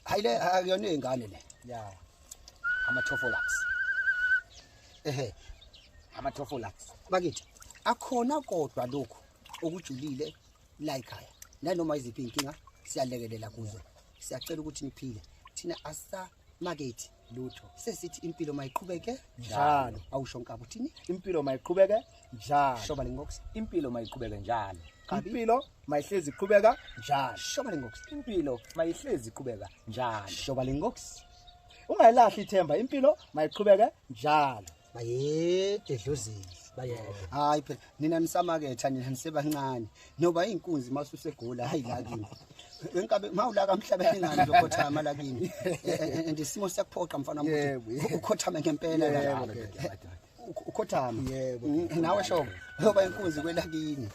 hayi le akuyona ingane le ya ama tofolax ehe ama tofolax bakithi akhona kodwa lokho okujulile la ekhaya nanoma iziphi inkinga siyalekelela kuzo siyacela ukuthi niphile thina asa makethi lutho sesithi impilo mayiqhubeke njalo awusho nkabi uthini impilo mayiqhubeke njalo shoba lengox impilo mayiqhubeke njalo impilo mayihlezi iqhubeka njalo shoba lengox impilo mayihlezi iqhubeka njalo shoba lengox ungayilahli ithemba impilo mayiqhubeke njalo bayede dlozini bayede hayi phela nina nisamaketha nina nisebancane noba inkunzi masusegola hayi la kimi wenkabe mawulaka mhlaba engani uzokhothama la kimi and isimo siyakuphoqa mfana mfuthi ukhothame ngempela la ukhothama yebo nawe shobo ngoba inkunzi kwelakini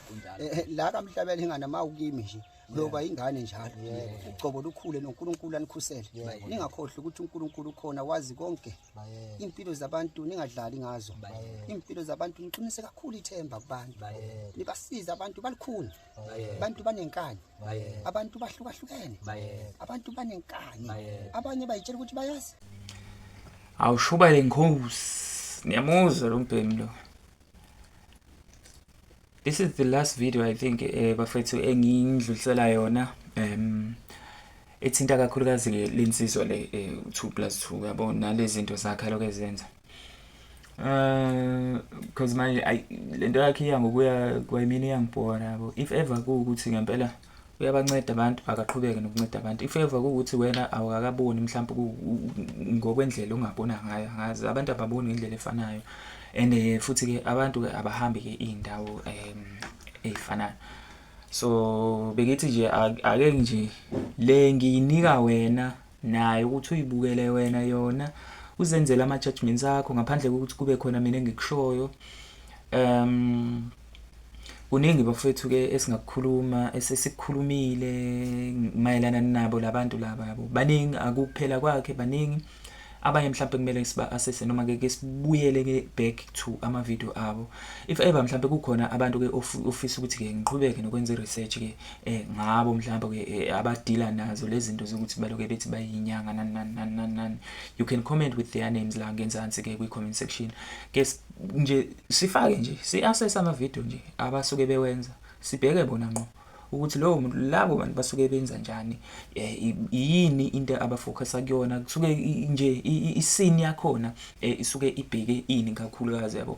la kamhlabela ingane mawukimi nje loba ingane njalo ucobo lukhule noNkulunkulu anikhusele ningakhohlwa ukuthi uNkulunkulu ukhona wazi konke impilo zabantu ningadlali ngazo impilo zabantu niqinise kakhulu ithemba kubantu nibasiza abantu balikhuni abantu banenkani abantu bahlukahlukene abantu banenkani abanye bayitshela ukuthi bayazi awushuba lenkosi niyamuzwa lo mbhemi lo this is the last video i think eh, bafethu engiyindlulisela yona um ethinta kakhulukazi ke lensizwa le 2 eh, plus 2 yabo nalezi zinto zakhe lokho ezenza Uh, because manje lento yakhe iya ngokuya kwayimini iyangibhora yabo if ever kuwukuthi ngempela uyabanceda abantu akaqhubeke nokunceda abantu if ever kuwukuthi wena awukakaboni mhlawumbe ngokwendlela ongabona ngayo angazi abantu ababoni ngendlela efanayo and eh, futhi ke abantu ke abahambi ke iy'ndawo um ey'fanayo so bengithi nje ake nje le ngiyinika wena nayo ukuthi uyibukele wena yona uzenzela ama judgments akho ngaphandle kokuthi kube khona mina engikushoyo um kuningi bafethu ke esingakukhuluma esesikhulumile mayelana nabo labantu laba yabo baningi akukuphela kwakhe baningi abanye mhlawumbe kumele siba assess noma ke sibuyele ke back to ama video abo if ever mhlawumbe kukhona abantu ke ofisa ukuthi ke ngiqhubeke nokwenza research ke eh ngabo mhlawumbe eh, abadila nazo lezi zinto zokuthi baloke bethi bayinyanga nani nani nani nani nani you can comment with their names la ngenzansi ke kwi comment section ke nje sifake nje si assess ama video nje abasuke bewenza sibheke bona ngqo ukuthi lowo muntu labo bantu basuke benza njani eh, yini into abafocusa kuyona kusuke nje isini yakhona eh, isuke ibheke ini kakhulukazi yabo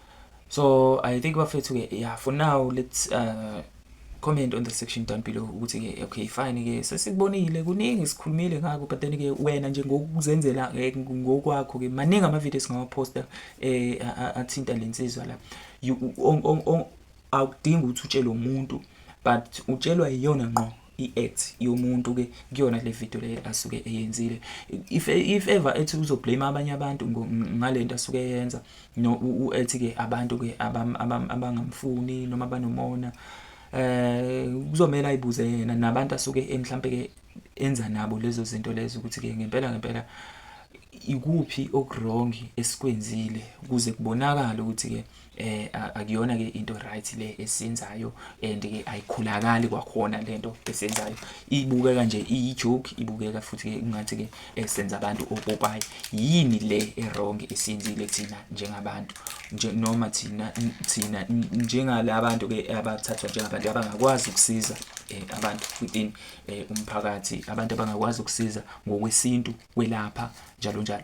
so i think bafethu ke yeah for now let's uh, comment on the section down below ukuthi ke okay fine ke sesikubonile kuningi sikhulumile ngakho but then ke wena nje ngokuzenzela eh, ngokwakho ke maningi ama videos ngawaposta eh athinta lensizwa la awudingi ukuthi utshele umuntu but utshelwa iyona ngqo i-act yomuntu ke kuyona le video le asuke eyenzile if if ever ethi uzoblame abanye abantu ngalento asuke yenza no uthi ke abantu ke abangamfuni noma banomona eh kuzomela ayibuze yena nabantu asuke emhlambe ke enza nabo lezo zinto lezo ukuthi ke ngempela ngempela ikuphi okuwrong esikwenzile kuze kubonakala ukuthi ke eh akuyona ke into right le esenzayo and ke ayikhulakali kwakhona lento esenzayo ibukeka nje iyi joke ibukeka futhi ke kungathi ke esenza eh, abantu opopayi yini le erong esiyenzile thina njengabantu nje noma thina thina njengalabantu ke abathathwa njengabantu abangakwazi ukusiza eh, abantu within eh, umphakathi abantu abangakwazi ukusiza ngokwesintu kwelapha njalo njalo